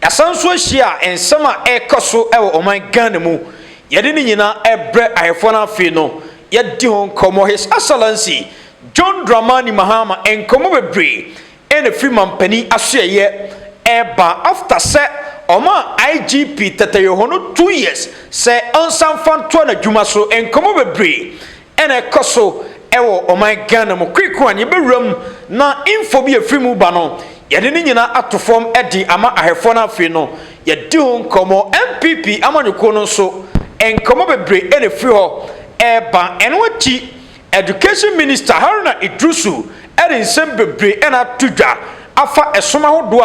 Yɛasan nso ahyia nsɛm a ɛrekɔ so wɔ ɔman Ghana mu. Yɛde ne nyinaa rebrɛ ahɛfoɔ no afei no yɛadi ho nkɔmmɔ His Excellency John Dramani Mahama nkɔmmɔ bebree na ɛfiri manpanin asoɛeɛ reba after sɛ ɔmaa IGP Tete Yoho no two years sɛ ɔnsan mfa ntoa n'adwuma so nkɔmmɔ bebree Ɛna ɛkɔ so wɔ ɔman Ghana mu. Quick one, yɛbɛwura mu na info bi a ɛfiri mu ba no, yɛde ne nyinaa ato fam de ama ahwɛfoɔ no afei no yɛadi ho nkɔmmɔ. NPP amanyɔkuo no nso, nkɔmmɔ bebree na ɛfiri hɔ reba. Ɛno akyi, Education Minister Haruna Iddrisu de nsɛm bebree na ato dwa afa ɛsom ahodoɔ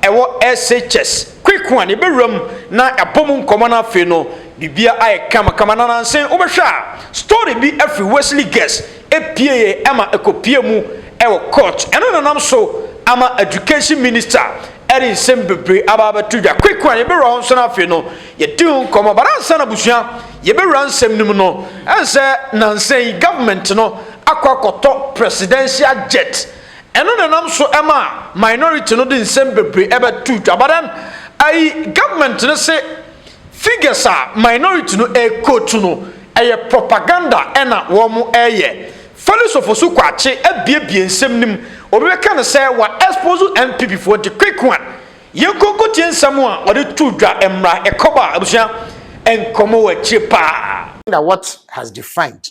a ɛwɔ SHS. Kweku a ne bɛwuram na yɛabɔ mu nkɔmmɔ na afei no biribiara ayɛ kamakama na nansen wobɛhwɛ a story bi afiri Wesley Guest ɛpueeɛ ɛma ɛkɔpuee mu ɛwɔ court ɛno na nam so ama Education Minister ɛde nsɛm bebree aba abɛto dwa Kweku a yɛbɛwura hɔ nso na afei no yɛadi ho nkɔmmɔ but ansa na abusua yɛbɛwura nsɛm no mu no ɛnsɛ nansen yi government no akɔ akɔtɔ presidential jet Ɛno na ɛnam so ɛmaa minority no de nsɛm bebree ɛbɛtoo dwa but then ɛyi government no se figures a minority no ɛrequote no ɛyɛ propaganda ɛna wɔn ɛreyɛ. Felix Ofosu Kwakye abiebie nsɛm no mu, obi bɛka no sɛ wa expose NPP foɔ nti quick one yɛnkɔ nkɔtie nsɛm a ɔde too dwa mmra ɛkɔba abusua nkɔmɔ wɔ akyire paa. What has defined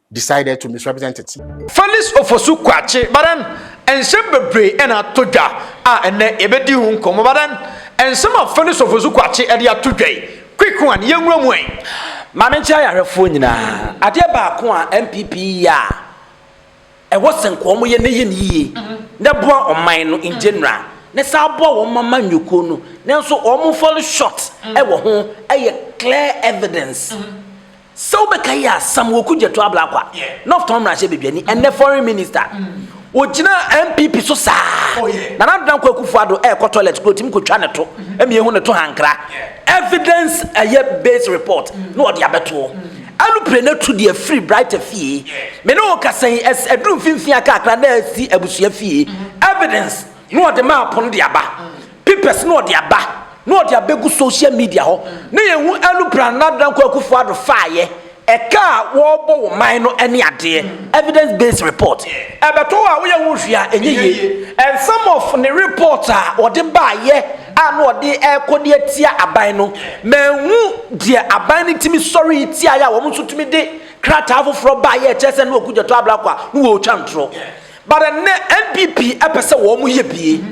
decided to misrepresent it. Felix Ofosu Kwakye, but then nsɛm bebree na atɔ dwa a ɛnnɛ yɛbɛdi ho nkɔmmɔ, but then nsɛm a Felix Ofosu Kwakye de ato dwa yi, quick one, yɛnwura mu ɛ. Maame nkyɛn ayarɛfoɔ nyinaa, adeɛ baako a NPP yɛ a ɛwɔ sɛ nka wɔn yɛ na ɛyɛ no yie na ɛboa ɔman no in general na ɛsan aboa wɔn mama nnwokuo no nanso wɔn fall short wɔ ho yɛ clear evidence. Sɛ wobɛka yi a, Samuel Okudzeto Ablakwa, Northtown mmarahyɛ badwani, ɛnnɛ foreign minister, ɔgyinaa NPP so saa. Nana Addo Dankwa Akufo-Addo ɛrekɔ toilet koraa ɔtumi kɔtwa ne to, mmie ho ne to hankra. Evidence ɛyɛ based report na ɔde abɛtoɔ. Alupre no atu deɛ firi Brighter fie. Me ne wo rekasa yi, ɛs ɛduru mfimfini akaakra na asi abusua fie. Evidence na ɔde maa pono de aba. Pipes na ɔde aba na ɔde abɛgu social media hɔ na yɛhu Anu Pran na Dankwa Akufo Addo faeɛ, ɛka a wɔrebɔ wɔ man no ne adeɛ, evidence based report. Ɛbɛtɔ hɔ a woyɛ ho hwee a ɛnyɛ yie. And some of ne report a ɔde baeɛ a na ɔde rekɔ de atia aban no, manhu deɛ aban no tumi sɔree tiaeɛ a wɔn nso tumi de krataa foforɔ baeɛ a ɛkyerɛ sɛ na Oku Gyatɔ Ablakwa no wɔretwa ntorɔ. But ɛnnɛ NPP pɛ sɛ wɔn yɛ bie.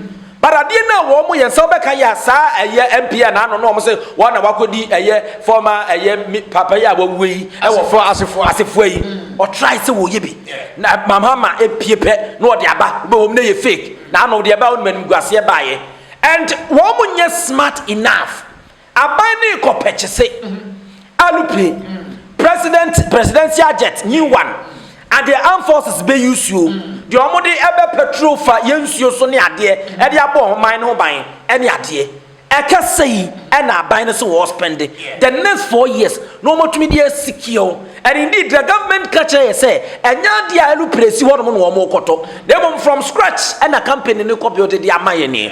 But adeɛ no a wɔn yɛn nsa wɔbɛka yɛ a saa ɛyɛ MP a n'ano no wɔn sɛ wɔn na wakɔdi ɛyɛ former ɛyɛ papa yi a wawue yi ɛwɔ fo asefoa asefoa yi ɔtrae sɛ wɔyɛ bi na mamama epie pɛ na ɔde aba bɛ wɔn na yɛ fake na ano deɛ ɛbaa wɔn anim guaseɛ baayɛ and wɔn nyɛ smart enough. Aban no rekɔ pɛkyese, aeroplane, president presidential jet, new one, adeɛ armed forces bɛ use o, deɛ wɔn de bɛ patrol fa yɛ nsuo so ne adeɛ ɛde abɔ wɔn man no ho ban ɛne adeɛ. Ɛka sei ɛna aban no se wɔɔ spende the next four years na wɔn atumi de asikiɛ o, and indeed the government ka kyerɛ yɛ sɛ ɛnyɛ adeɛ a aeroplane si hɔ nom na wɔn rekɔtɔ na mmom from scratch ɛna company no rekɔ build de ama yɛ nie.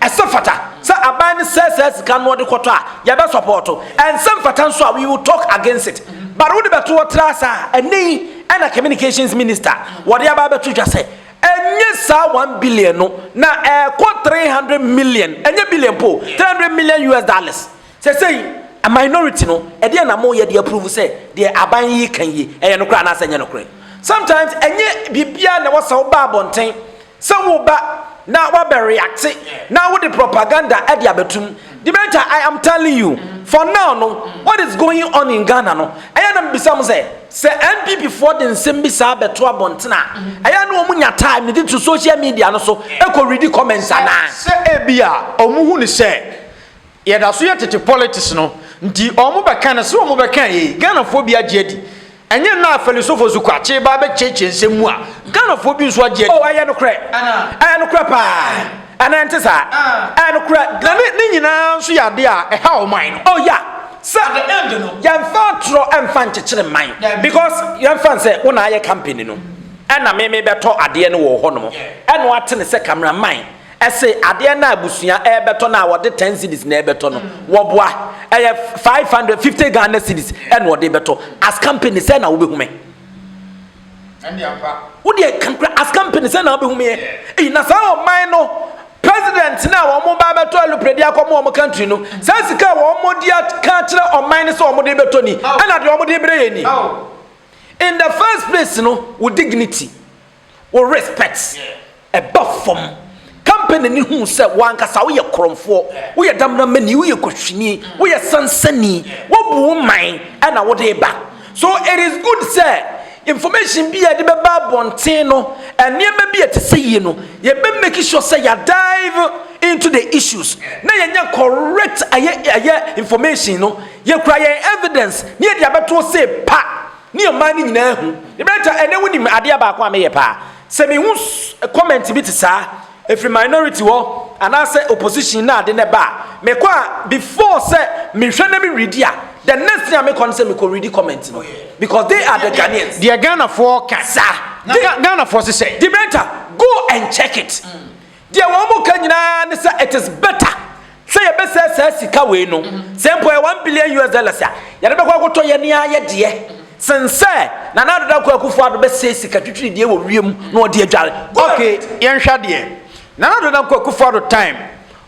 Ɛsɛ fata sɛ aban no sɛɛ saa sika no ɔde kɔtɔ a yɛbɛ sɔpɔɔto. Ɛnsɛ mfata nso a we will talk against it. But wode bɛto hɔ tra ase a ɛnɛ yi ɛna communications minister wɔde aba abɛto dwa sɛ ɛnyɛ saa one billion no na ɛɛkɔ three hundred million ɛnyɛ billion mpo o three hundred million US dollars. Sɛsɛyi a minority no ɛdeɛn na moyɛ de approve sɛ deɛ aban yi reka yi ɛyɛ nokorɛ anaasɛ ɛnyɛ nokorɛ? Sometimes ɛnyɛ biribiara na ɛwɔ sɛ woba abɔnten Sɛ wo ba na wabɛ reacte na wo de propaganda de abɛtum, the better I am telling you, for now no what is going on in Ghana no, ɛyɛ na mebisa mo sɛ, sɛ NPP foɔ de nsɛm bi saa bɛto abɔnten a, ɛyɛ na wɔn nya time de to social media no so kɔ readi comments anaa? Sɛ ebia wɔn hu no sɛ Yɛda so yɛ tete politics no nti ɔmo bɛka no sɛ ɔmo bɛka ei Ghanafoɔ bi agye adi ɛnyɛ nnɛ a Fɛlisofo so kwa kye ba bɛkyeakyea nsɛm mu a Ghanafoɔ bi nso agye adi. Oh ɛyɛ nokorɛ ɛyɛ nokorɛ paa anaa ɛnte saa ɛyɛ nokorɛ na ne ne nyinaa nso yɛ adeɛ a ɛha ɔman no oh ya sɛ yɛnfa atorɔ ɛnfa nkyekyere man because yɛnfa no sɛ wo na ayɛ company no ɛna me me bɛtɔ adeɛ no wɔ hɔ nom ɛna wate no sɛ camera man Ɛse adeɛ no a abusua rebɛtɔ no a wɔde ten cedis na ɛrebɛtɔ no wɔboa ɛyɛ five hundred fifty Ghana cedis ɛna wɔde rebɛtɔ as company sɛ na wobɛhu me wodeɛ kankura as company sɛ na wobɛhu meɛ eyi na saa ɔman no president no a wɔn ba bɛtɔ alupere de akɔ wɔn country no saa sika a wɔn de aka kyerɛ ɔman no sɛ wɔn de bɛtɔ ni ɛna deɛ wɔn de brɛ yɛ ni in the first place no wo dignity. Wo respect ba fam. Company no hu sɛ wo ankasa woyɛ korɔmfoɔ, woyɛ damdamani, woyɛ kuhwini, woyɛ sansani, wobu wo man na wode reba. So it is good sɛ information bi a yɛde bɛba abɔnten no, nneɛma bi a ɛte sɛ yie no, yɛbɛ make sure sɛ yɛ dive into the issues na yɛnya correct ɛyɛ ɛyɛ information no, yɛkura yɛn evidence na yɛde abɛto sɛ pa. Ne ɔman no nyinaa hu. Yɛbɛta ɛnɛ wo nim adeɛ baako a meyɛ paa. Sɛ mehu comment bi te saa, ɛfiri minority hɔ, anaasɛ opposition na ade no ɛba a, mekɔ a before sɛ mehwɛ na me readi a, the next thing a mekɔ no sɛ mekɔ readi comment no. Because they are the Ghanaians. Deɛ Ghanafoɔ ka. Sa. Ghanafoɔ se sɛ. Debater, go and check it. Deɛ wɔn mo ka nyinaa ne sɛ it is better sɛ yɛbɛsɛɛ saa sika wei no, sɛ mpo ɛyɛ one billion US dollars a, yɛde bɛkɔ akɔtɔ yɛn ara yɛ deɛ, sen sɛ Nana Addo Dankwa Akufo Addo bɛsɛɛ sika twitwiri deɛ wɔ wiem na ɔde adware. Go ahead. Okay, yɛnhwɛ adeɛ. Nana Addo Dankwa Akufo Addo time,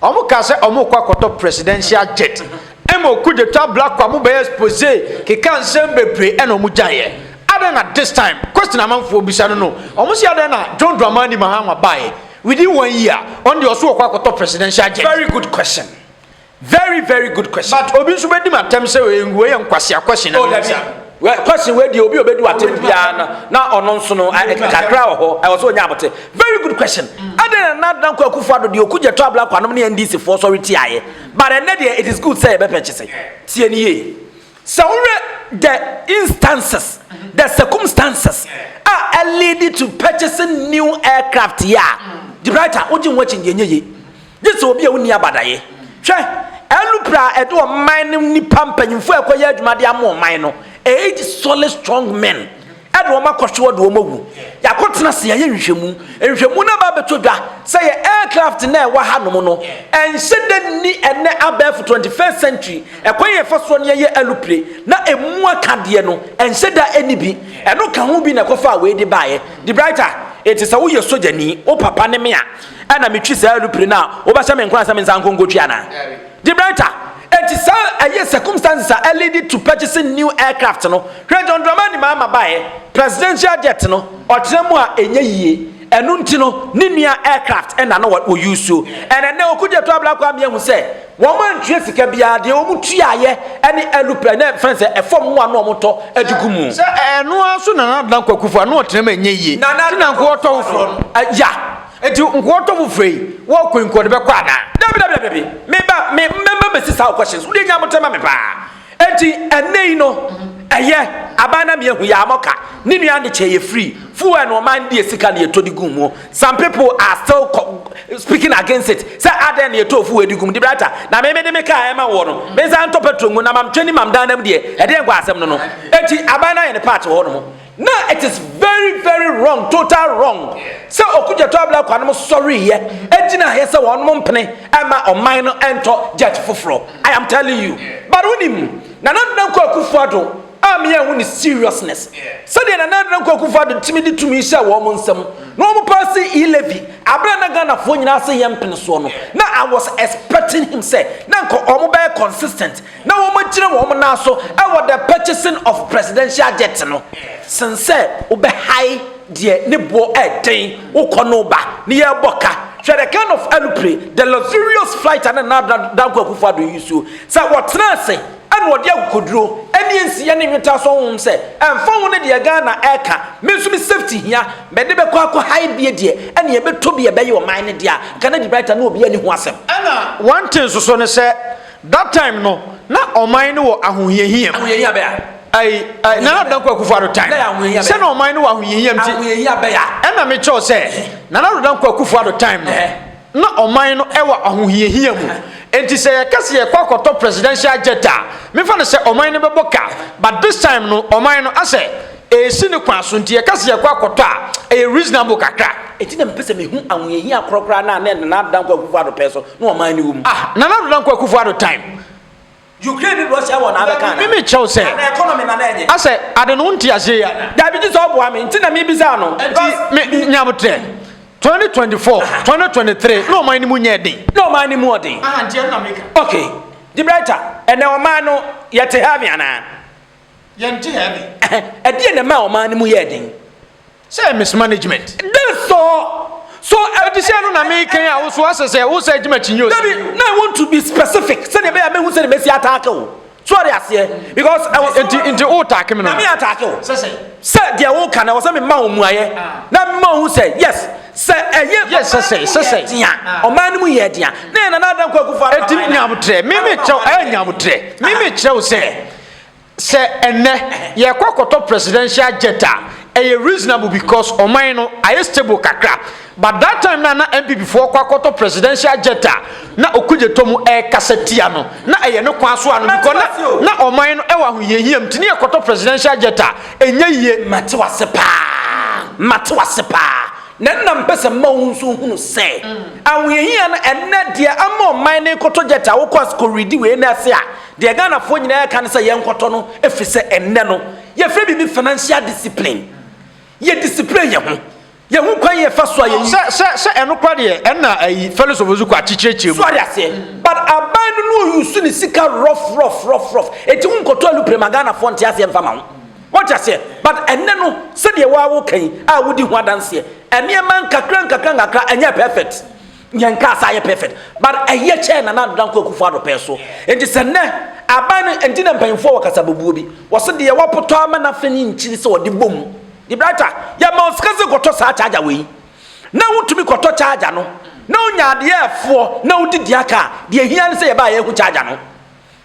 wɔn kaa sɛ wɔn rekɔ akɔtɔ presidential jet, ɛma Okudzeto Ablakwa mo bɛyɛ expose, keka nsɛm bebree ɛna wɔn gyaeɛ. Adɛn na this time question amanfoɔ bisa no no ɔmo se adɛn na John Dramani Mahama baeɛ within one year ɔno deɛ ɔso ɔkɔ akɔtɔ presidential jet. Very good question very very good question. But obi nso bɛdi me atɛm sɛ wei yɛ nkwasea question na mebisa. Well question wei deɛ obi a ɔbɛdi w'atɛm biara no na ɔno nso no kakra wɔ hɔ ɛwɔ sɛ ɔnya abote. Very good question adɛn na Nana Dankwa Akufo Addo deɛ ɔku Gyɛtɔ Ablakwa nom ne NDC foɔ sɔre tiaeɛ but ɛnnɛ deɛ it is good sɛ yɛbɛpɛkyese. Tie no yie Sɛ wohwɛ the instances, the circumstances a ɛleadi to purchasing new aircraft yi a, De Bryter, wogye wo ho akyi, deɛ ɛnyɛ yie. Gye sɛ obi a wonni abadaeɛ. Hwɛ, LUPRA a ɛde ɔman no nnipa mpanyimfoɔ a ɛkɔyɛ adwuma de ama ɔman no, eight solid strong men, Ɛna wɔn akɔhwe wɔde wɔn awu. Yɛakɔtena ase yɛayɛ nhwehwɛmu. Nhwehwɛmu no aba abɛtɔ dwa sɛ yɛn aircraft no a ɛwɔ hanom no, ɛnhyɛ da nni ɛnnɛ abɛɛfo 21st century ɛkwan a yɛfa soɔ no yɛyɛ alupre na ɛmu aka deɛ no, ɛnhyɛ da nni bi. Ɛno ka ho bi na ɛkɔfaa wei de baeɛ. De Brighter, enti sɛ woyɛ sogyani, wo papa ne me a, ɛna metwi saa alupre no a, wobɛhyɛ me nkuran sɛ me nsa nkɔ nkɔtwi anaa? Gibraltar, enti saa ɛyɛ circumstances a ɛ leadi to purchasing new aircraft no, hwɛ John Dramani Mahama baeɛ, presidential jet no, ɔtena mu a ɛnyɛ yie, ɛno nti no ne nua aircraft na na wɔ usuo, and ɛnnɛ Okudzeto Ablakwa ama yɛahu sɛ wɔn antua sika biara, deɛ wɔn tuaeɛ ɛne aeroplane na ɛfrɛ no sɛ ɛfam mmoa no a wɔn tɔ de gu mu. Sɛ ɛno ara nso Nana Dankwa Akufo-Addo na ɔtena mu a ɛnyɛ yie, nti na nka ɔtɔ foforɔ no. Yeah. Enti nkoatɔ mu fɛ yi, wɔkɔ nkoa de bɛkɔ anaa? Dabi, dabi, dabi, dabi. Me ba, me, me mma bɛsi saa questions. Wode nya abotɛ ma me paa. Enti ɛnnɛ yi no, ɛyɛ, aban na mia hu yɛ amɔka, ne nua ande kyɛ yɛ free, fuel no ɔman deɛ sika na yɛtɔ de gu muo. Some people are still speaking against it, sɛ adɛn na yɛtɔ fuel de gu mu. Debrata, na me me de me car ɛma woɔ no, me nsa ntɔ petrol ngu, na mam twɛ ni mam dan nam deɛ, ɛdeɛn nkwa asɛm no no. Enti aban no ayɛ ne part wɔ hɔ nom. Na it is very very wrong total wrong sɛ Okudzeto Ablakwa nom sɔreeɛ gyinaeɛ sɛ wɔnom mpene mma ɔman no ntɔ jet foforɔ I am telling you but wonim Nana Ado Dankwa Akufo Addo a me anhu ne seriousness sɛdeɛ Nana Ado Dankwa Akufo Addo tumi de tumi hyɛɛ wɔn nsam na wɔn paase E levy aberɛ a na Ghanafoɔ nyinaa se yɛmpene soɔ no na I was expecting him sɛ na nka wɔn bɛyɛ consistent na wɔagyina wɔn nan so wɔ the purchasing of presidential jet no sen sɛ wobɛhae deɛ ne boɔ ɛden wokɔ no ba ne yɛrebɔ ka hwɛ the kind of alupre the luxurious flight ane na danko akufo ado yi suo sɛ wɔtena ase ɛna wɔde akokoduro ɛne nsiya ne nweta so honhom sɛ ɛmfa ho ne deɛ Ghana ɛka me nso me safety hia mɛde bɛkɔ akɔ hae bie deɛ ɛne yɛbɛtɔ bi ɛbɛyɛ ɔman ne deɛ a Canada brighter ne obi ani ho asɛm ɛna one thing nso so ne sɛ That time no na ɔman no wɔ ahohiahia mu. Ahohiahia bɛn a? Ai, ai, Nana Dankwa Akufo-Addo time. Bɛn ahohiahia bɛn? Sɛ na ɔman no wɔ ahohiahia mu ti. Ahohiahia bɛn a? Ɛna me kyɛw sɛ, Nana Addo Dankwa Akufo-Addo time no, na ɔman no wɔ ahohiahia mu. Enti sɛ yɛka sɛ yɛkɔ akɔtɔ presidential jet a, me fa no sɛ ɔman no bɛbɔ ka. But this time no, ɔman no asɛ ɛresi ne kwan so, nti yɛka sɛ yɛkɔ akɔtɔ a, ɛyɛ reasonable kakra. Enti na mepɛ sɛ mehu ahohiahia korɔ koraa no a na Nana Addo Dankwa Akufo-Addo pɛn so na ɔman no wɔ mu. Ah, Nana Ado Dankwa Akufo Ado time. Ukraine ne Russia wɔ na abɛka na. Mimi kyɛw sɛ. Ana economy na na enye. Asɛ ade no nti ase ya. Dabi gye sɛ ɔboa me nti na mi bisa no. Nti nyabotrɛ 2024 2023 na ɔman no mu nyɛ den. Na ɔman no mu ɔden. Aha nti ɛno na meka. Okay. De brighter ɛnɛ ɔman no yɛ te heaven anaa. Yɛn te heaven. Ɛdeɛ na ɛma ɔman no mu yɛ den. Sɛ miss management. Dɛn sɔ? So adesua no na mekan a wo so asɛ sɛ wo sɛ agye m'akyinnye o? Dabi, na I want to be specific sɛdeɛ ɛbɛyɛ a mɛhu sɛdeɛ mɛsi ataake wo. So wate aseɛ? Because ɛwɔ sɛ. Nti nti wo taake me no. Na me ataake wo. Sɛ sɛn? Sɛ deɛ wo ka no ɛwɔ sɛ me ma wo mmuaeɛ na me ma wo hu sɛ yes sɛ ɛyɛ. Yes sɛ sɛn sɛ sɛn. Dea ɔman no mu yɛ dea na yɛ Nana Addo Nkoa Akufo Addo aban no. Ɛti nyabotrɛ, me me kyerɛ wo ɛɛ nyabotrɛ, me me kyerɛ wo sɛ. Sɛ ɛnnɛ yɛkɔ akɔtɔ presidential jet a, ɛyɛ reasonable because ɔman no ayɛ stable kakra. But that time no a na NPP foɔ kɔ akɔtɔ presidential jet a na Okudzeto mu ɛrekasa tia no, na ɛyɛ ne kwan so a no because na na ɔman no ɛwɔ ahohiahia mu nti ne yɛkɔtɔ presidential jet a ɛnyɛ yie. Mate w'ase paa, mate w'ase paa. Na nna mpɛ sɛ mma wo nso hunu sɛ ahohiahia no ɛnnɛ deɛ ama ɔman no rekɔtɔ jet a wokɔ as kɔ readi wei no ase a, Deɛ Ghanafoɔ nyinaa ɛka ne sɛ yɛnkɔtɔ no ɛfiri sɛ ɛnnɛ no yɛfrɛ biribi financial discipline. Yɛ discipline yɛn ho. Yɛhu kwan yɛfa so a yɛyi. Sɛ sɛ sɛ ɛno kora deɛ ɛna ayi Felix Ofosuku akyekyerɛkyerɛ mu. So ade aseɛ. But aban no no ɔyusu ne sika rough rough rough rough. Ɛti wo nkɔtɔ alupre ma Ghanafoɔ nte aseɛ mfa ma wo. Wate aseɛ? But ɛnnɛ no sɛdeɛ wo ara woka yi a wodi ho adanseɛ nneɛma nkakra nkakra nkakra ɛnyɛɛ perfect. Yɛn car saa yɛ perfect but ɛyɛ kyɛn Nana Ado Dankwa Akufo Addo pɛɛ so nti sɛ nnɛ aban no nti na mpanyinfoɔ wɔ kasabobuo bi wɔse deɛ wɔpotɔ ama no afe no nkyiri sɛ wɔde bom De Brighter yɛma wo sika sɛ kɔtɔ saa charger wei na wotumi kɔtɔ charger no na wonya adeɛ ɛfoɔ na wode dua car deɛ ɛhia ne sɛ yɛbaa yɛhu charger no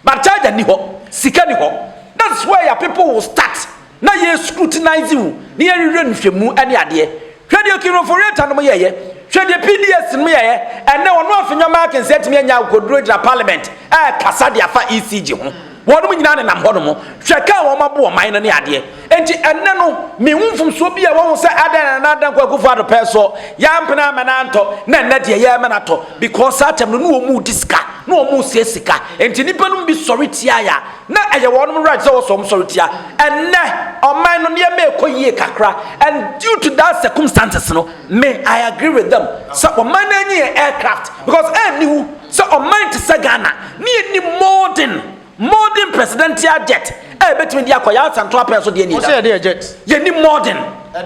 But charger nni hɔ, sika nni hɔ. That is where your people will start na yɛ scrutinise wo na yɛ hwehwɛ nhwɛmu ne adeɛ. Hwɛ deɛ Kiroforeata nom yɛeɛ, hwɛ deɛ PDS nom yɛeɛ, ɛnnɛ wɔn a Afenyo Markins atumi anya akokoduro gyina parliament ɛrekasa de afa ECG ho. Wɔnom nyinaa nenam hɔ nom, hwɛ car a wɔn abo ɔman no ne adeɛ. Enti ɛnnɛ no, minhu mfomsoɔ biara wɔ ho sɛ adɛn na Nana Dankwa Akufo-Addo pɛɛ soɔ, yɛampene amma no antɔ, na ɛnnɛ deɛ yɛrema no atɔ, because saa kyɛm no na wɔn redi sika, na wɔn resua sika, enti nnipa nom bi sɔre tiaeɛ a, na ɛyɛ wɔn nom right sɛ wɔsɔ wɔn sɔre tia. Ɛnnɛ, ɔman no nneɛma rekɔ yie kakra, and due to that circumstances no, me, I agree with them sɛ ɔman no nyi yɛn aircraft, because ɛnni hu sɛ ɔman te sɛ Ghana, na yɛnni modern. Modern presidential jet a ebetumi de akɔ Yasa ntoapɛn so deɛ ni. Ɔsɛ yɛde yɛ jet. Yɛni modern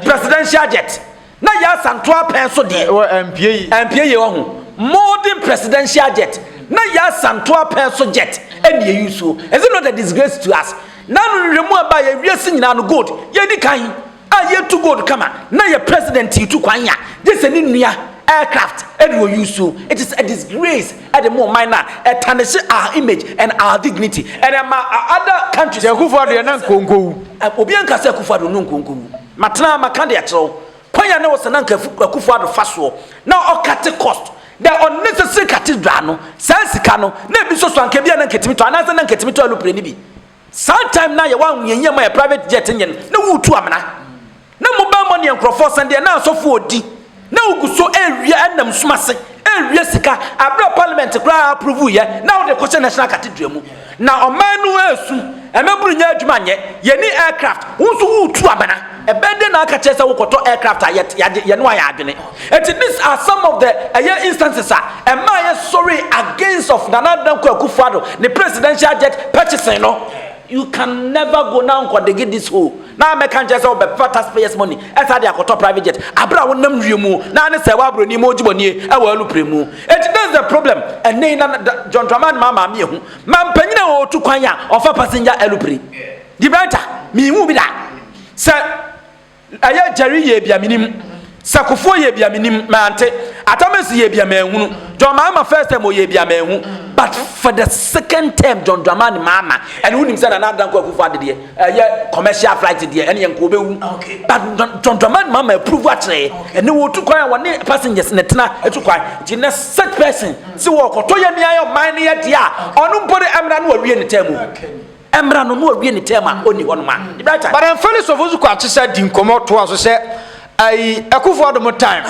presidential jet na Yasa ntoapɛn so deɛ. Wɔ ɛmpie yi. Ɛmpie yi ɔho. Modern presidential jet na Yasa ntoapɛn so jet ɛni yɛ yusuo. Is it not a disgrace to us? N'ano nhwehwɛmu a ba yɛ wiase nyinaa no gold yɛdi kan. a yɛ tu gold kama na yɛ president yi tu kwan ya gye sɛ ne nua aircraft ɛde wɔ use it is a disgrace ɛde mo ɔman na ɛtanehye our image and our dignity and ɛma other countries yɛ kufu adeɛ na nkonkowu obi anka sɛ kufu adeɛ no nkonkowu matena maka de akyerɛw kwan ya ne wɔ sɛ na nka kufu adeɛ fa soɔ na ɔkate cost the unnecessary cathedral no saa sika no na ebi soso anka bi a na nketimi tɔ anaasɛ na nketimi tɔ alupere ne bi Saa time no ayɛ wanhu yɛn yie ma yɛ private jet nyɛ no na woretu amena na mobile money yɛ nkurɔfoɔ sɛn deɛ na asɔfoɔ ɔdi na wogu so ɛrewia ɛnam sum ase ɛrewia sika aberɛ parliament koraa approve yɛ na wode kɔhyɛ national cathedral mu na ɔman no ɛresu ɛmɛburu nyɛ adwuma nyɛ yɛni aircraft wo nso woretu amena Ɛbɛyɛ dɛn na aka kyerɛ sɛ wokɔtɔ aircraft a yɛne wo ayɛ adwene? Enti these are some of the ɛyɛ instances a ɛmaa yɛsɔree against of Nana Dankwa Akufo-Addo ne presidential jet purchasing no. You can never go na nkɔ dege this hole na mɛka nkyerɛ sɛ wobɛfa taxpayers money ɛsa de akɔtɔ private jet aberɛ a wonam wie mu na ne sɛ w'abroni mu gyibɔnie ɛwɔ alupre mu. Enti this is the problem ɛnɛ yi na John Dramani Mahama ameahu ma mpanyini a ɔtu kwan a ɔfa passenger alupre. Dibɛnta, minhuu bi da. Sɛ ɛyɛ Gyɛri yɛɛ bi a, minnim. Sɛ Kofoɔ yɛɛ bi a, minnim, mante. Atamasi yɛɛ bi a, manhunu. John Mahama first term ɔyɛɛ bi a, manhu. But for the second term John Dramani Mahama, ɛne wonim sɛ Nana Addo Dankwa Akufo Addo deɛ, ɛyɛ commercial flight deɛ, ɛne yɛnka ɔbɛwu. But John Dramani Mahama approve akyerɛ yɛ. Ɛnɛ wɔtu kwan a wɔne passengers na ɛtena atu kwan. Nti nnɛ such person sɛ wɔrekɔtɔ yɛn mmeaeɛ ɔman no yɛ deɛ a, ɔno mpo de ɛmmra na wawie ne term o. Ɛmmra no na ɔwie ne term a ɔnni hɔ nom a, the bright time. But ɛmfa ne sɔfo nso kɔ akyesa di nkɔmmɔ toa so sɛ ayi Akuffo Addo mo time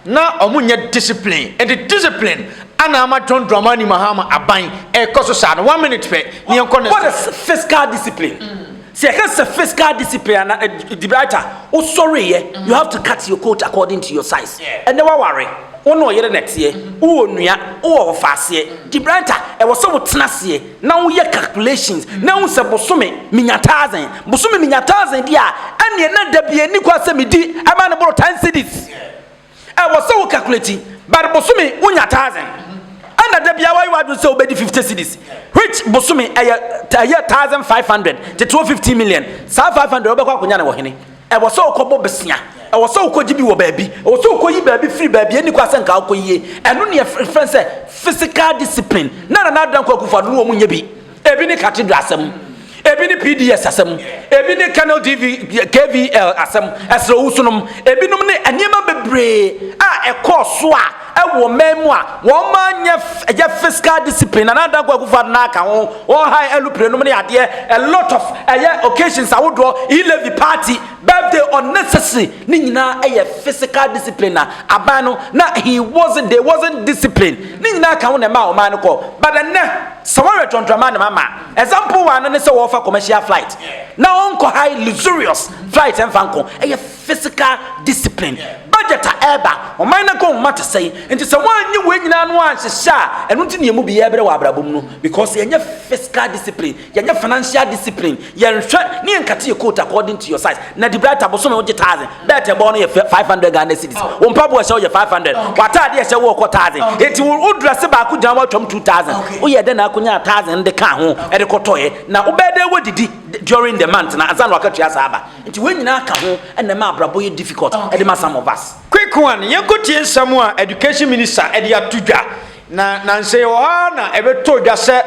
na ɔmo nyɛ discipline ɛnti discipline ana ama John Dramani Mahama aban ɛkɔ so saa no one minute pɛ ne yɛnkɔ next. What is fiscal discipline? Mm. Sɛ yɛka sɛ fiscal discipline ana eh, the bright a wosɔreyɛ mm. you have to cut your coat according to your size ɛnɛ yeah. waware wo ne ɔyere na ɛteɛ mm-hmm. wowɔ nua wowɔ ɔfaaseɛ mm. the bright a ɛwɔ sɛ wotena seɛ na wo yɛ calculations na ehu sɛ bosome menya thousand bosome menya thousand di a ɛneɛ na dabi ani kɔ sɛ medi ɛma ne boro ten cities ɛwɔ sɛ wo calculate but bosome wonya thousand ɛna dabi a wayɛ wadwo sɛ wobɛdi fifty cities which bosome ɛyɛ ɛyɛ thousand five hundred tete wɔ fifteen million saa five hundred wobɛkɔ akonya ne wɔ hene Ɛwɔ sɛ wokɔbɔ bosea. Ɛwɔ sɛ wokɔgye bi wɔ baabi. Ɛwɔ sɛ wokɔyi baabi firi baabi a ɛnni kwan sɛ anka wokɔyie. Ɛno ne yɛfrɛ no sɛ physical discipline. Na Nana Addo Dankwa Akufo-Addo ne wɔn nyɛ bi. Ebi ne Cathedral asɛm. Ebi ne PDS asɛm. Ebi ne Colonel DV, KVL asɛm, Ɛserɛ Owusu nom. Ebinom ne nneɛma bebree a ɛkɔɔ so a wɔ mmaa mu a wɔn mma nyɛ yɛ fiscal discipline na nana danko akufo ado n'aka ho wɔn ha ɛlupire nom ne adeɛ a lot of ɛyɛ occasions ahodoɔ elevi party birthday unnecessary ne nyinaa ɛyɛ physical discipline na aban no na he wasn't they wasn't discipline ne nyinaa ka ho na ɛma ɔman no kɔ but ɛnɛ sɛ wɔyɛ tɔntɔnma ne mama example wa no ne sɛ wɔfa commercial flight na wɔnkɔ high luxurious flight ɛnfa nko ɛyɛ physical discipline, budget a ɛreba, ɔman no agohoma te sɛn, nti sɛ wɔannye wei nyinaa no anhyehyɛ a, ɛno nti ne ɛmu bi yɛbrɛ wɔ abrabɔ mu no, because yɛnyɛ physical discipline, yɛnyɛ financial discipline, yɛnhwɛ ne yɛnkate yɛ coat according to your size, na Debrighter bosome wogye thousand, belt ɛbɔ no yɛ 500 Ghana cedis, wo mpaboa ɛhyɛ wo yɛ 500, w'ataade ɛhyɛ wo ɔkɔ thousand, nti wo wo dress baako gyina woatwam 2000, woyɛ dɛn na akonyaa thousand de kaa ho ɛde kɔtɔɛ, na wobɛyɛ dɛn wadidi during the month no ansa na wakatua saa aba. Nti wei nyinaa ka ho na ɛma abrabɔ yɛ difficult de ma some of us. Quick one, yɛnkɔtie nsɛm a Education Minister de ato dwa. Na nansa yi wɔ hɔ ara na ɛbɛtɔɔ dwa sɛ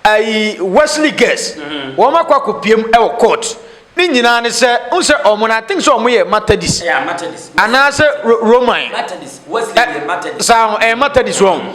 ayi Wesley Girls, wɔn akɔ akɔpiam wɔ court. Ne nyinaa ne sɛ, wohu sɛ wɔn no, I think sɛ wɔn yɛ Matadis. Yeah, Matadis. Anaasɛ Roman. Matadis, Wesley yɛ Matadis. Saa ho, ɛyɛ Matadis wɔn.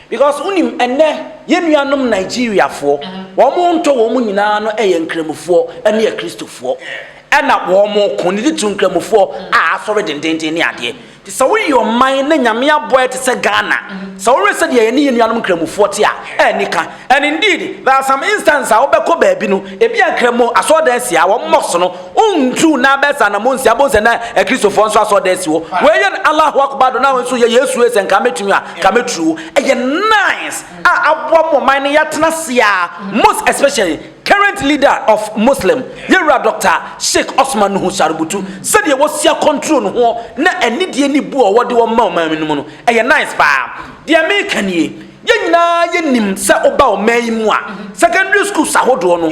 Because wonim ɛnnɛ yɛn nuanom Nigeriafoɔ wɔn ntɔ wɔn nyinaa no yɛ nkramofoɔ ne akristofoɔ ɛna wɔn ko ne titiriw nkramofoɔ a asɔre dendenden ne adeɛ nti sɛ woyɛ ɔman na nyame abɔ ɛte sɛ Ghana sɛ wohwɛ sɛ deɛ yɛne yɛn nuanom nkramofoɔ te a ɛni ka and indeed there are some instances a wobɛkɔ baabi no ebia nkramo asɔredan si a wɔn mosque no Wontuu na bɛsa anamo nsi abom sɛ na Akristofoɔ nso asɔɔda asi hɔ. Wei yɛ no Allahu Akbar do na wei nso yɛ Yesu ee sɛ nka mɛtumi a, nka mɛturi wo. Ɛyɛ nice a aboa mo ɔman no yɛatena ase a, most especially current leader of Muslim, Yɛwura Doctor Sheikh Osman Nuhu Sarubutu, sɛdeɛ wasia control ne ho na anidie ne bu a ɔwɔ de wɔ ma ɔman no mu no, ɛyɛ nice paa. Deɛ meka nie, yɛn nyinaa yɛnim sɛ woba ɔman yi mu a, secondary schools ahodoɔ no,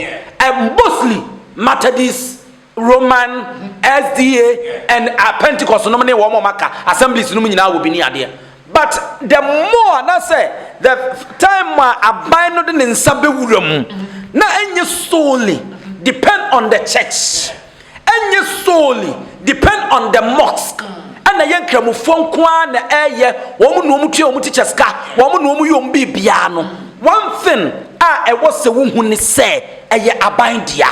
mostly, Methodist, Roman, SDA and uh, Pentecost nom ne wɔn wɔn aka assemblies nom nyinaa wɔ Benin adeɛ. But the more na sɛ the time a aban no de ne nsa bɛwura mu na ɛnyɛ solely depend on the church ɛnyɛ solely depend on the mosque ɛna yɛ nkramofoɔ nko ara na ɛyɛ wɔn na wɔn tua wɔn ti kyɛ sika wɔn na wɔn yɛ wɔn biribiara no one thing a ɛwɔ sɛ wohu ne sɛ Ɛyɛ aban dea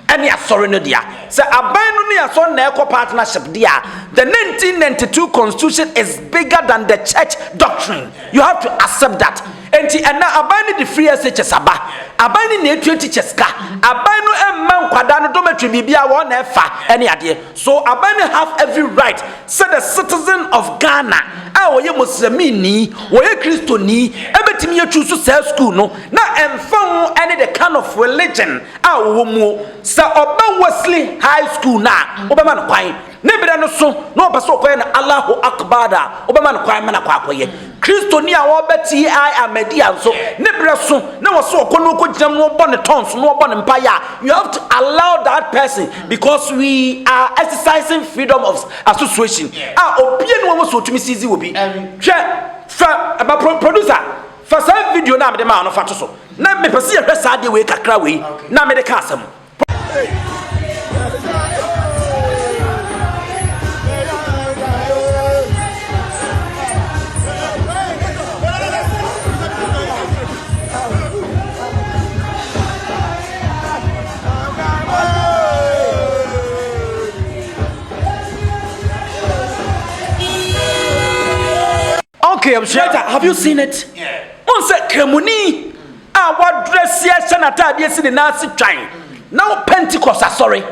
ɛne asɔre no dea. Sɛ aban no ne asɔre na ɛkɔ partnership de a, the 1992 constitution is bigger than the church doctrine. You have to accept that. Enti ɛnɛ aban no de free SHS aba. Aban no na ɛtua teachers ka. Aban no ɛmma nkwadaa no dormitory biribiara wɔn na ɛfa ɛne adeɛ. So aban no have every right sɛ the citizen of Ghana a ɔyɛ Muslimini, ɔyɛ Kristoni ɛbɛtumi yɛ choose saa school no. Na ɛmfa ho ne the kind of religion a ɔwɔ muo, sɛ ɔba Wesley High School no a, wobɛma no kwan. Ne berɛ no so na ɔpɛ sɛ ɔkɔyɛ no Allahu Akbar a, wobɛma no kwan ma no akɔ akɔyɛ. Kristoni a ɔreba TI Ahmadiyya nso, ne berɛ so na ɔsɛ ɔkɔ na ɔkɔgyinam na ɔbɔ ne tons na ɔbɔ ne mpaeɛ a, you have to allow that person because we are exercising freedom of association a obiara nni hɔ a ɔwɔ sɛ ɔtumi seize obi. Hwɛ, fa, ma pro, producer, Fa saa video no a mede maa no fa to so na mepɛ sɛ yɛhwɛ saa adeɛ wei kakra wei na mede ka asɛm. Okay, abusua. Later, have you seen it? Wɔn sɛ kramoni a wadrɛsi ahyɛ n'ataadeɛ si ne nan ase twan na wɔ Pentecost asɔre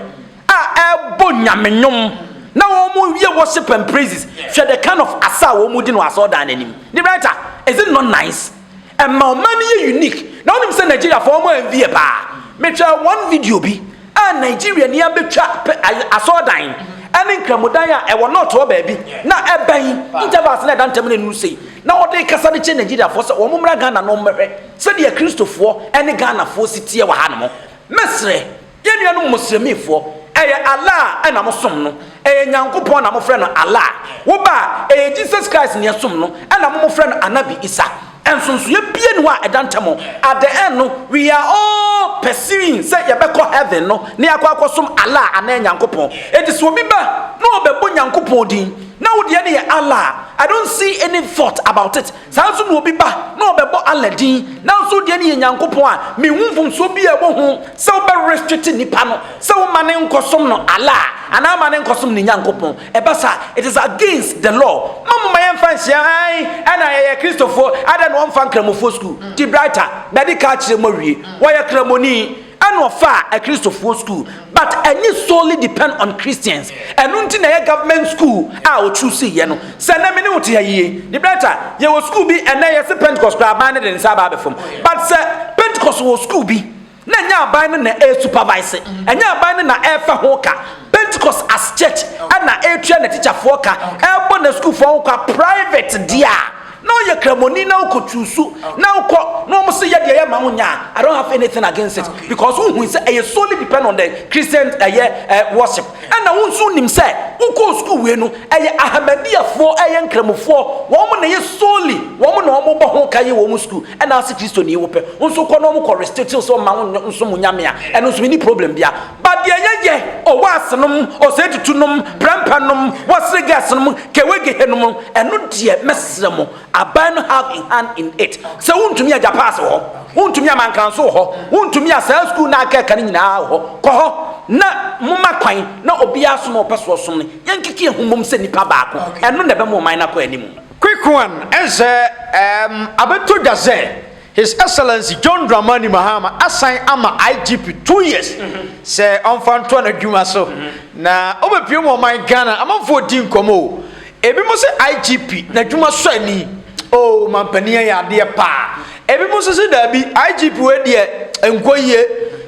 a ɛbɔ nyame nnwom na wɔn yɛ worship and praises. Hwɛ the kind of asa a wɔn di no asɔredan n'anim. Ne writer, is it not nice? ɛma ɔman no yɛ unique na wonim sɛ nigeriafoɔ ɔmo envy yɛ paa metwa one video bi a nigeria ni abɛtwa asɔɔdan ɛne nkramodan a ɛwɔ nɔɔtoɔ baabi na ɛbɛn intervals na ɛda ntam no ɛnuru sei na ɔde kasa de kyɛ nigeriafoɔ sɛ wɔn mmra ghana no mmɛhwɛ sɛdeɛ kristofoɔ ɛne ghanafoɔ si teɛ wɔ ha no mo mɛsrɛ Yɛn nuanom Muslimifoɔ, ɛyɛ Allah na mosom no, ɛyɛ Nyankopɔn na mofrɛ no Allah. Wo ba a, ɛyɛ Jesus Christ na yɛsom no, ɛna mo mofrɛ no Anabi Isa. Nsonsonoeɛ biara nni hɔ a ɛda ntam. At the end no, we are all pursuing sɛ yɛbɛkɔ Heaven no na yɛakɔ akɔsom Allah anaa Nyankopɔn. Enti sɛ obi ba na ɔbɛbɔ Nyankopɔn din na wo deɛ no yɛ Allah a, I don't see any fault about it. Saa nso na obi ba na ɔbɛbɔ Allah din, nanso wo deɛ no yɛ Nyankopɔn a, menhu mfomsoɔ biara a ɛwɔ ho sɛ wobɛ restrict nnipa no sɛ woma no nkɔsom no Allah anaa ma no nkɔsom ne Nyankopɔn. Ɛba saa a, it is against the law. Mma momma yɛmfa nhyia, ae, ɛna yɛyɛ Kristofoɔ, adɛn na wɔmfa Nkramofoɔ sukuu? Debrighter, bɛde ka akyerɛ mu awie, wɔyɛ Kramoni. Ɛna ɔfaa akristofoɔ school but ɛnye solely depend on Christians ɛno nti na ɛyɛ government school a ɔchoose yɛ no sɛ nɛ mene wo te ha yie ne brɛta yɛwɔ school bi ɛnɛ yɛse Pentecost koraa aban ne de nsa aba abɛfam but sɛ Pentecost wɔ school bi na ɛnyɛ aban no na ɛyɛ supervise ɛnyɛ aban no na ɛfa ho ka Pentecost as church ɛna ɛtua na tikyafoɔ ka ɛbɔ na schoolfoɔ ho kwa private deɛ a Na ɔyɛ kramoni na ɔkɔ tu su na ɔkɔ na wɔn se yɛ deɛ yɛ ma wo nya I don't have anything against it because wo hui sɛ ɛyɛ solely depend on the Christian ɛyɛ eh, worship ɛna wo nso nim sɛ wokɔ school wei no ɛyɛ Ahmadiyyafoɔ ɛyɛ nkramofoɔ wɔn na ɛyɛ solely wɔn na wɔn bɔ ho ka yɛ wɔn school ɛna ase Kristoni wo pɛ wo nso kɔ na wɔn kɔ restrictions wɔn ma wo nso mo nyame a ɛno nso ni problem bia Ba deɛ yɛyɛ owaase nom, osetutu nom, prɛmpɛ nom, wasere gas nom, kewegehe nom no, ɛno deɛ mɛsrɛ mo, aban no have a hand in it. Sɛ wontumi a Japaase wɔ hɔ, wontumi a Mankanso wɔ hɔ, wontumi a saa sukuu no a akeka no nyinaa wɔ hɔ. Kɔ hɔ na moma kwan na obiara som a ɔpɛ so ɔsom no. Yɛnkeka yɛn ho mmom sɛ nnipa baako. Ɛno na ɛbɛma ɔman no akɔ anim. Quick one, ɛnsɛ, um, abɛtɔ dwa sɛ, His Excellency John Dramani Mahama asan ama IGP two years sɛ ɔmfa ntoa n'adwuma so na ɔbɛpue mu ɔman Ghana amanfoɔ di nkɔmmɔ o. Ebi mo se IGP n'adwuma sɔ ani oo mampanin ayɛ adeɛ paa. Ebi mo nso se daabi IGP wei deɛ ɛnkɔ yie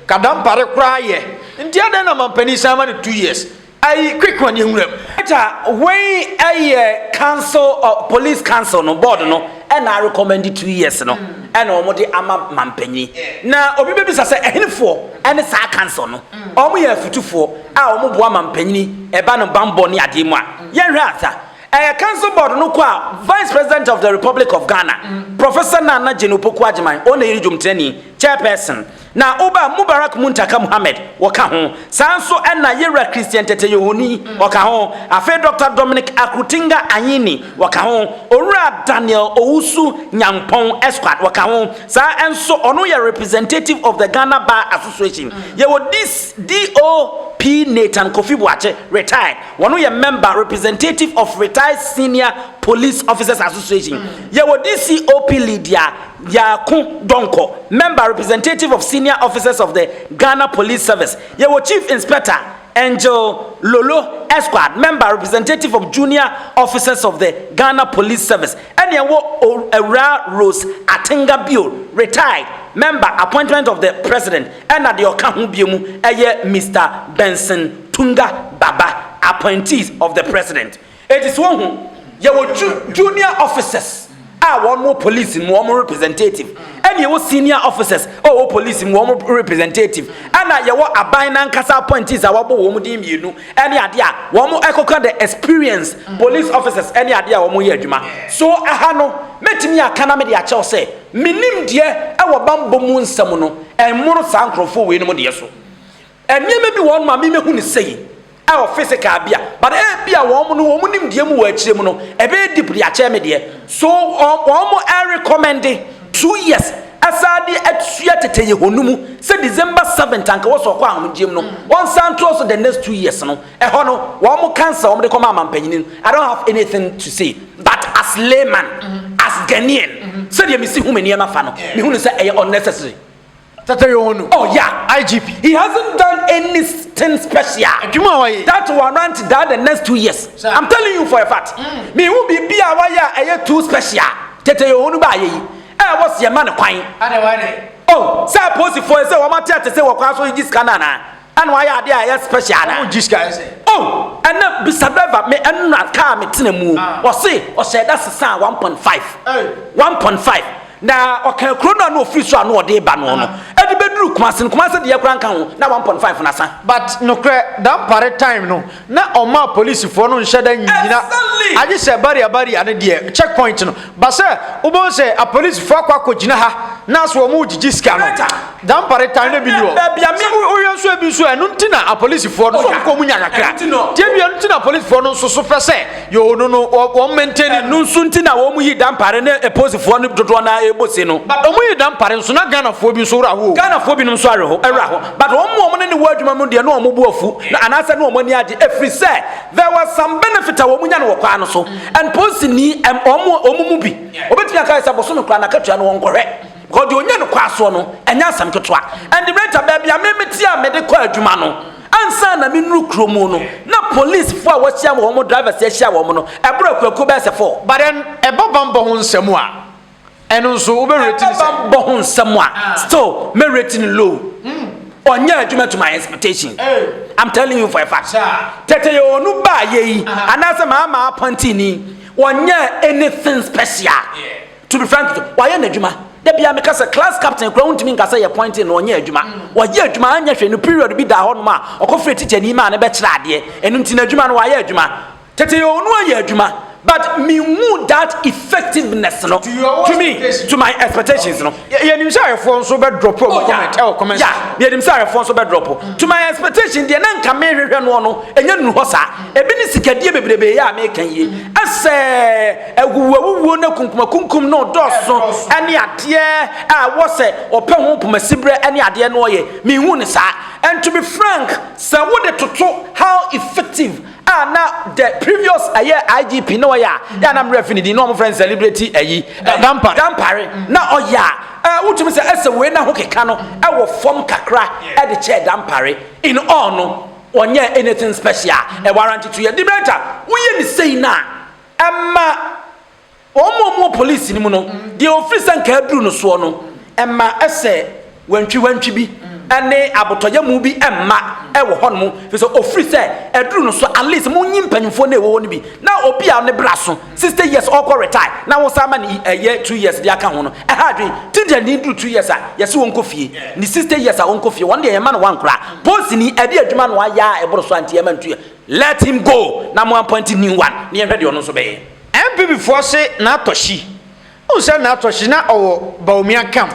kadampare koraa yɛ. Nti adɛn na mampanin san ma no two years? Ayi quick kwan yɛ nwura mu. Peter wei ɛyɛ council of police council no board no ɛna arekɔmɛndi two years no ɛna wɔn de ama mampanyini na obi bɛ bisa sɛ ɛhenefoɔ ɛne saa council no wɔn yɛ afutufoɔ a wɔn boa mampanyini ɛba no banbɔ ne adeɛ mu a yɛn hwɛ asa ɛyɛ council board no kɔ a vice president of the republic of Ghana professor Nana Jane Opoku Agyeman ɔna yɛre dwomtenani chairperson Na Uba Mubarak Muntaka Muhammad wɔka ho, saa ara nso na Yewura Christian Tete Yohoni wɔka ho, afei Dɔkta Dominic Akrotinga Anyini wɔka ho, Owura Daniel Owusu Nyampong Esquart wɔka ho, saa ara nso ɔno yɛ Representative of the Ghana Bar Association. Yɛwɔ Dis, DOP Nathan Kofi Boakye, Retired, ɔno yɛ Member, Representative of Retired Senior Police Officers Association. Yɛwɔ DCOP Lydia. Yaako Donkor, Member Representative of Senior Officers of the Ghana Police Service, yɛwɔ Chief Inspector Angel Lolo Esquad, Member Representative of Junior Officers of the Ghana Police Service, ɛne ɛwɔ Awuraa Rose Atenga bio, Retired Member Appointment of the President, ɛna deɛ ɔka ho bio mu ɛyɛ Mister Benson Tunga Baba, Appointees of the President. Enti so wohu, yɛwɔ ju junior officers a wɔn wɔ police mu wɔn representative, ɛna yɛwɔ senior officers a wɔwɔ police mu wɔn representative, ɛna yɛwɔ aban n'ankasa appointees a wɔabɔ wɔn din mmienu ɛne adeɛ a wɔn ɛkɔka the experience police officers ɛne adeɛ a wɔn yɛ adwuma. So ɛha no, mɛtumi aka na mede akyɛw sɛ, me nimdeɛ ɛwɔ banbɔ mu nsɛm no ɛmmono saa nkorɔfoɔ wei nom deɛ so. Nneɛma bi wɔ hɔ nom a me mehu no sei ɛwɔ physical bi a but ebia wɔn no wɔn nimdeɛ mu wɔ akyire mu no ɛbɛyɛ deep de akyɛɛ me deɛ so wɔn wɔn ɛrecommende two years ɛsan de atua tetɛyɛ hɔ no mu sɛ December seventh anka wɔsɛ ɔkɔ ahomegyeɛ mu no wɔn san ntoɔ so the next two years no ɛhɔ no wɔn cancel wɔn de kɔma amampanyini no I don't have anything to say but as layman as Ghanaian sɛdeɛ mesi hu me nneɛma fa no mehu no sɛ ɛyɛ unnecessary Tete yɛ wɔn o. Oh yeah IGP. He hasn't done anything special. Adwuma a wayɛ yi. That warrant that the next two years. Sir. I'm telling you for a fact. Me hu biribi a wayɛ a ɛyɛ too special. Tete yɛ wɔn baayɛ yi. Ɛɛ wɔsi ɛma no kwan. Adɛn wayɛ dɛn? Oh sɛ apolisifoɔ yi sɛ wɔn ate ate sɛ wɔ kwan so regye sika no anaa? Ɛna wayɛ adeɛ a ɛyɛ special anaa. Ɔmo gye sika ayɛ sɛ. Oh ɛnɛ bisa driver me ɛna car a me tena mu o ah. ɔse ɔhyɛ da sesaa one point five one point five na ɔka kuro no a na ofiri so a na ɔde ba no no ɛde bɛduru kumase no kumase deɛ kora nka ho na one point five na sa. but nokorɛ dampare time no. na ɔmaa polisifoɔ no nhyɛ da nnyina agye sɛ baria baria no deɛ check point no ba sɛ wobɛhu sɛ apolisifoɔ akɔ akɔgyina ha na so wɔn gyigye sika no dampare tan no bi ni hɔ baabi a me woyɛ nso ebi nso ɛno nti na apolisifoɔ no nso kɔ mu nya kakra tiɛ bi ɛno nti na apolisifoɔ no nso so pɛ sɛ Yoo no no wɔ wɔn maintain. Ɛno nso nti na wɔn yi dampare ne eposifoɔ no dodoɔ naa ɛbɔ se no. But wɔn yi dampare nso na Ghanafoɔ bi nso wura hɔ o. Ghanafoɔ binom nso awe hɔ awura hɔ but wɔn wɔn ne ne wɔ adwuma mu deɛ na wɔn bo afu na anaasɛ na wɔn ani agye ɛfiri sɛ there was some benefit a wɔn nya no wɔ kwan no so and posi ni ɛm wɔn wɔn mu bi obetumi aka sɛ bosome koraa na akatua no wɔn kɔhwɛ. Hɔ deɛ ɔnya no kwan soɔ no, ɛnyɛ asɛm ketewa. Ɛnde Rita, baabi a me mete a mede kɔ adwuma no, ansa na menuru kuro mu no, na polisfoɔ a wɔahyia wɔ wɔn drivers ahyia wɔn no, ɛboro akuakuo bɛyɛ sɛ four. But then, ɛba bammɔ ho nsɛm a, ɛno nso wobɛrate no sɛ? Ɛba bammɔ ho nsɛm a, still mɛrate no low. Ɔnyɛ adwuma to my expectation. I'm telling you for a fact. Tete yɛ ɔnu baayɛ yi, anaasɛ maa maa apɔntini, ɔnyɛ anything special. To be frank, wayɛ n'adwuma. Da bia meka sɛ class captain kura wontumi nka sɛ yɛ pointing na ɔnyɛ adwuma. Wayɛ adwuma anyɛ hwɛ no period bi daa hɔnom a ɔkɔfrɛ tikyani maa no bɛkyerɛ adeɛ. Ɛno nti n'adwuma no wayɛ adwuma. Tete onu ayɛ adwuma but menhu that effectiveness no to me to my expectations no. Yɛnim sɛ ayɛfoɔ nso bɛ drop ɔmo oh, comment ɛwɔ comment. Yeah, yɛnim sɛ ayɛfoɔ nso bɛ drop. Mm. To my expectation deɛ na nka mehwehwɛ noɔ no ɛnyɛ nnu hɔ saa. Ebi ne sikadie bebrebe yɛ a meka yie. Ɛsɛ. awuwuawuwuo ne akunkumakunkum ne ɔdɔɔso ne adeɛ a ɛwɔ sɛ ɔpɛ ho pomasiberɛ ne adeɛ no ɔyɛ menhu ne saa and to be frank sɛ wode toto how effective a na the previous ɛyɛ IGP na ɔyɛ a yɛ na mmerɛ fi ne din na ɔmofrɛ no celebrity ɛyi dampare dampare na ɔyɛ a wotumi sɛ ɛsɛ wei na ho keka no ɛwɔ fam kakra ɛde kyɛɛ dampare in all no ɔnyɛ anything special ɛwara nti to yɛ debate a woyɛ ne sei no a Ɛma wɔn a wɔwɔ polisi no mu no deɛ wɔfiri sɛ nka aduru no soɔ no, ɛma ɛsɛ wantwiwantwi bi ne abotɔyamu bi mma wɔ hɔnom, ɛfiri sɛ ɔfiri sɛ aduru no so, at least monyi mpanimfoɔ no a ɛwɔ hɔ no bi, na obi a ne bra so 60 years ɔrekɔ retire na wosan ma no ɛyɛ 2 years de aka ho no, ɛha adwene. Tigrani duru 2 years a, yɛse ɔnkɔ fie, ne 60 years a ɔnkɔ fie, wɔn deɛ yɛmma no one koraa. Polisini, ɛde adwuma na wayɛ a ɛboro so a nti yɛmma no 2 years. Let him go na mo appoint new one na yɛnhwɛ deɛ ɔno nso bɛyɛ. NPP foɔ se N'atɔhyi. Wohu sɛ N'atɔhyi na ɔwɔ Bawumia camp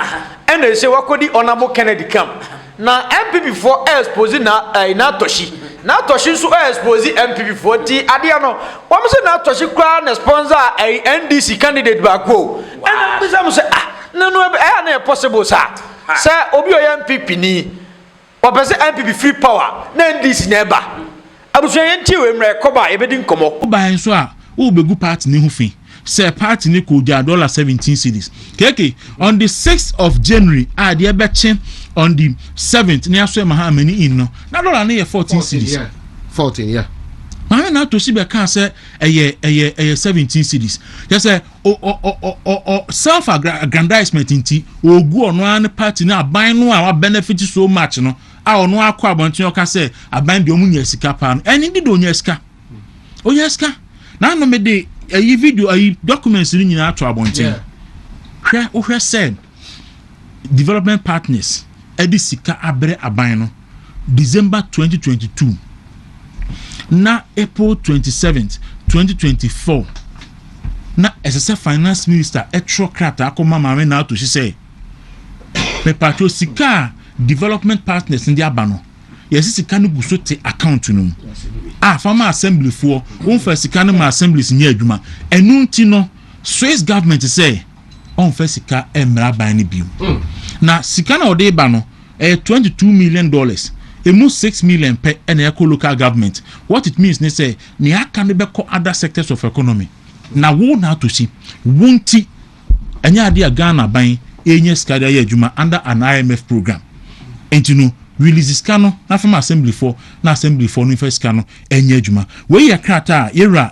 ɛna ese wakɔdi Honourable Kennedy camp. Na NPP foɔ expose na ɛɛ N'atɔhyi. N'atɔhyi nso expose NPP foɔ nti adeɛ no wɔn se N'atɔhyi koraa na sponsor ɛɛ NDC candidate baako o. Ɛna mebisa mo sɛ ah nanu ɛyɛ a na ɛyɛ possible saa? Sɛ obi ɔyɛ NPP ni. Wɔpɛ sɛ NPP firi power na NDC na ɛba. Abusua yɛntie wei mmra yɛkɔ ba a yɛbɛdi nkɔmmɔ. Wobae nso a worebegu party no ho fi sɛ party no kogyaa dollar seventeen cedis kk on the sixth of January a deɛ ɛbɛkye on the seventh ne asoɛ Mahamani inn no na dollar no yɛ fourteen cedis. Maame Natosi bɛkaa sɛ ɛyɛ ɛyɛ ɛyɛ seventeen cedis kyerɛ sɛ self aggrandizement nti ogu ɔno ara ne party na aban no a wabenefit so much no a ɔno akɔ abɔnten ɔka sɛ aban deɛ ɔmo nya sika paa no ɛne de de ɔnya sika ɔnya sika na ano me de ɛyi video ɛyi documents no nyinaa ato abɔnten hwɛ wohwɛ sɛ development partners ɛde sika abrɛ aban no. December twenty twenty two na April twenty seventh twenty twenty four na ɛsɛ sɛ finance minister ɛtwerɛ krataa kɔma maame na ato si sɛ mepatro sika a development partners no de aba no yɛsɛ sika no gu so te account no mu a fa ma assemblyfoɔ wɔmfa sika no ma assemblies nyɛ adwuma ɛno nti no Swiss government sɛ ɔmfa sika mmra aban no bio na sika na ɔde ba no ɛyɛ twenty two million dollars, ɛmu six million pɛ na ɛkɔ local government, what it means ne sɛ nea aka no bɛkɔ other sectors of economy. Na wo Narto si, wo nti, ɛnyɛ adeɛ a Ghana aban ɛrenya sika de ayɛ adwuma under an IMF program, nti no release sika no na fa ma assemblyfoɔ na assemblyfoɔ no mfa sika no nyɛ adwuma. Wei yɛ krataa a yɛwura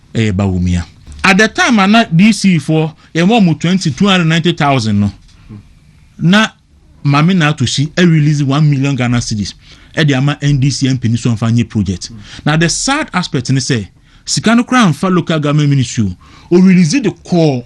Ɛyɛ Bawumia. At the time a na DC foɔ yɛ ma wɔn twenty, two hundred and ninety thousand no, na Maame Naato Si release one million Ghana cedis de ama NDC MP no sɛ ɔmfa nyɛ project. Na the sad aspect ne sɛ, sika no koraa amfa local government ministry o, ɔrelease de kɔɔ.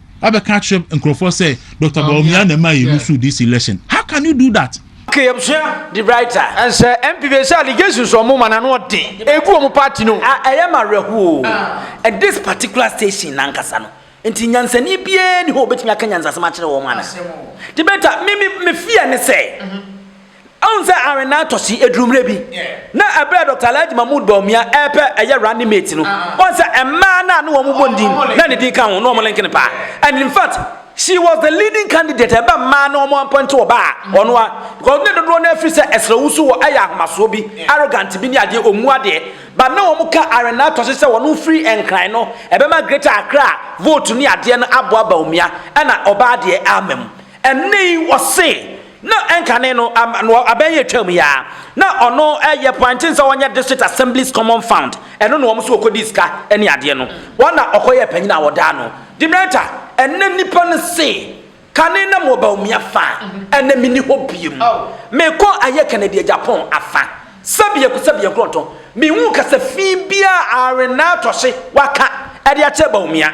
Abɛka akyerɛ nkurɔfoɔ sɛ Doctor Bawumia na ɛmaa yɛ lusu DC election. How can you do that? Ke yɛbsua de brighter. Ɛnsɛ MP base allegations ɔmo ma n'ano ɔden egu ɔmo party no. Ah ɛyɛ me awerɛhoɔ oo. And this particular station no ankasa no nti nyansani biara nni hɔ a ɔbɛtumi aka nyansasɛm akyerɛ wɔn anaa? Debater, me me fear ne sɛ. Ahu sɛ Arenaa tɔsi aduru mmerɛ bi na ɛberɛ a Dɔkta Alhaji Mahmood Bawumia ɛrepɛ ɛyɛ running mate no, wahu sɛ mmaa no a na wɔn bɔ ne din na ne din ka ho na wɔn link no paa and in fact she was the leading candidate ɛba mmaa na wɔn appoint ɔbaa a ɔno a because ne dodoɔ no afiri sɛ ɛsrɛ wusu wɔ ɛyɛ ahomasoɔ bi arrogant bi ne adeɛ ɔmmu adeɛ but na wɔn ka Arenaa tɔsi sɛ wɔn firi nkran no ɛbɛma Greater Accra vote ne adeɛ no aboa Bawumia ɛna ɔbaa deɛ ama mu ɛnne yi ɔse Na ɛnkane no, no abɛn yɛ twam yi ara, na ɔno yɛ pointing sɛ ɔnyɛ district assembly's common fund, ɛno na wɔn nso wɔkɔdii sika ne adeɛ no, wɔn na ɔkɔyɛɛ panyin a wɔdaa no demerita. Ɛnnɛ nnipa no se, Kane na mewɔ Bawumia fa, ɛnnɛ menni hɔ bio. Mekɔ ayɛ Kennedy Agyapong afa. Sɛbea ku sɛbea nkorɔntɔ Menhuu kasa fi biaa Arenatɔhye waka de akyerɛ Bawumia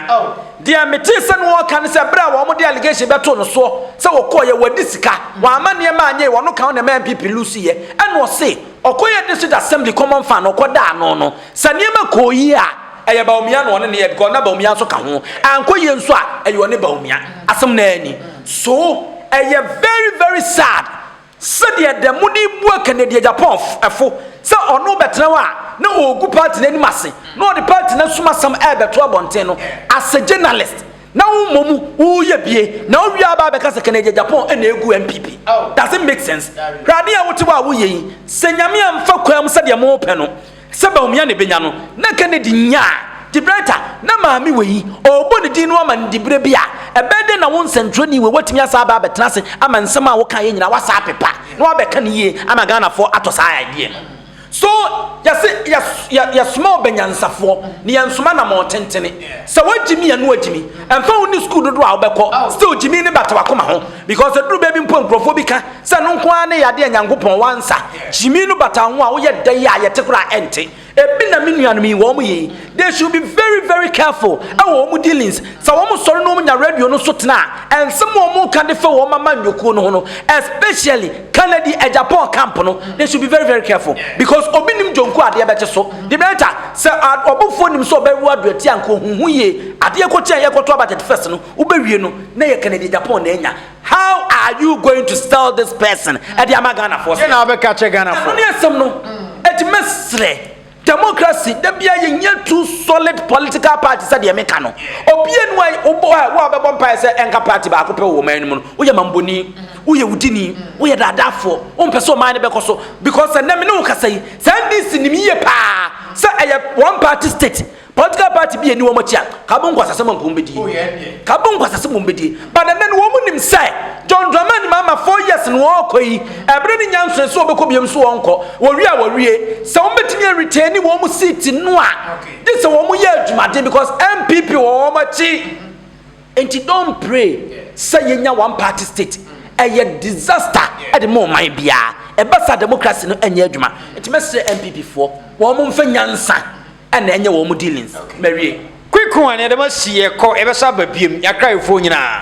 Deɛ metee sɛ na ɔreka ne sɛ berɛ a wɔde allegation bɛtoo no soɔ sɛ ɔkɔɔeɛ wadi sika Wamma nneɛma anyɛe Ɔno ka ho na ɛma NPP looseeɛ Ɛna ɔse ɔkɔyɛɛ District Assembly common fund na ɔkɔdaa ano no Sɛ nneɛma kɔɔ yie a ɛyɛ Bawumia na ɔne no yɛɛ because na Bawumia nso ka ho Ankɔ yie nso a ɛyɛ ɔne Bawumia Asɛm no ara ni So ɛyɛ very very sad Sɛdeɛ da mu de bua Kennedy Japonfo sɛ ɔno bɛtena hɔ a na ɔregu party no anim ase na ɔde party no asom asɛm rebɛto abɔnten no as a journalist na wo mmom wo yɛ bie na wo wie a aba abɛka sɛ Kennedy Japan na ɛgu NPP doesn't make sense hwɛ adeɛ a wote hɔ a woyɛ yi sɛ Nyame amfa kwaa mu sɛdeɛ mo pɛ no Sɛ Bawumia na ebenya no, na Kennedy nyaa. Gibraltar, na maame wei, ɔrebɔ ne din no aman diberɛ bi a, ɛbɛyɛ dɛn na wo nsɛntwerɛni wei watumi asan aba abɛtena ase ama nsɛm a wokaeɛ nyinaa woasan apepa na woabɛka no yie ama Ghanafoɔ atɔ saa idea no? So yɛse yɛ yɛ soma ɔbɛnyansafoɔ na yɛn soma namɔn tentene. Sɛ wɔagyimi a na wɔagyimi. Ɛmfa ho ne sukuu dodoɔ a wobɛkɔ, still gyimi no bata w'akoma ho. Because ɛduru baabi mpo nkurɔfoɔ bi ka sɛ no nko ara ne yadeɛ a Nyankopɔn wansa gyimi no bata ho a woyɛ dɛ yi a yɛte koraa a ɛnte. Ebi na me nuanom yi wɔn yɛ yi. They should be very very careful ɛwɔ wɔn dealings. Sɛ wɔn sɔre na wɔn nya radio no so tena a, nsɛm a wɔn ka de fa wɔn amanyɔkuo no ho no, especially Kennedy Agyapong camp no, they should be very very careful. Because obi nim dwonku a adeɛ bɛkye so. The better sɛ ɔbofoɔ nim sɛ ɔbɛwo aduatia a nka ɔhuhu yie. Adeɛ kɔkye a yɛkɔto aba 31st no, Wobɛwie no na ɛyɛ Kennedy Agyapong na anya. How are you going to sell this person ɛde ama Ghanafoɔ sɛ. Deɛ na wobɛka kyɛ Ghanafoɔ. Ɛno ne asɛm no. Ɛti mɛsrɛ democracy da bia yɛnyɛ two solid political party sɛ deɛ meka no. Obie no a wobɔ a wo a wobɛbɔ mpaeɛ sɛ ɛnka party baako pɛ wɔ ɔman no mu no woyɛ mambɔni, woyɛ wudini, woyɛ daadaafoɔ, wompɛ sɛ ɔman no bɛkɔ so because ɛnɛ me ne wo kasa yi sɛ NDC nim yie paa sɛ ɛyɛ one party state Political party bi a ɛni wɔn akyi a, ka bɔ nkwasasɛm a nka wɔn bɛdie. Oh, yeah, yeah. Ka bɔ nkwasasɛm wɔn bɛdie. But ɛnɛ no wɔn nim sɛ John Dramani Mahama four years no wɔrekɔ yi, ɛbere ne nyansoe so wɔbɛkɔ biam so wɔnkɔ. Wɔwie a wɔwie. Sɛ wɔn bɛtumi aretɛni wɔn seat no a, gye sɛ wɔn yɛ adwumaden because NPP wɔ wɔn akyi. Nti don't pray sɛ yɛnya one party state. Ɛyɛ disaster ɛde mo ɔman biara. Ɛbɛ sa democracy no ɛnyɛ adwuma. Nti mɛsrɛ NPP foɔ wɔn mfa nyansa ɛna ɛnyɛ wɔn dealings. Mawie. Quick one yɛde mo asi yɛkɔ yɛbɛsa aba biom yɛakrayefoɔ nyinaa.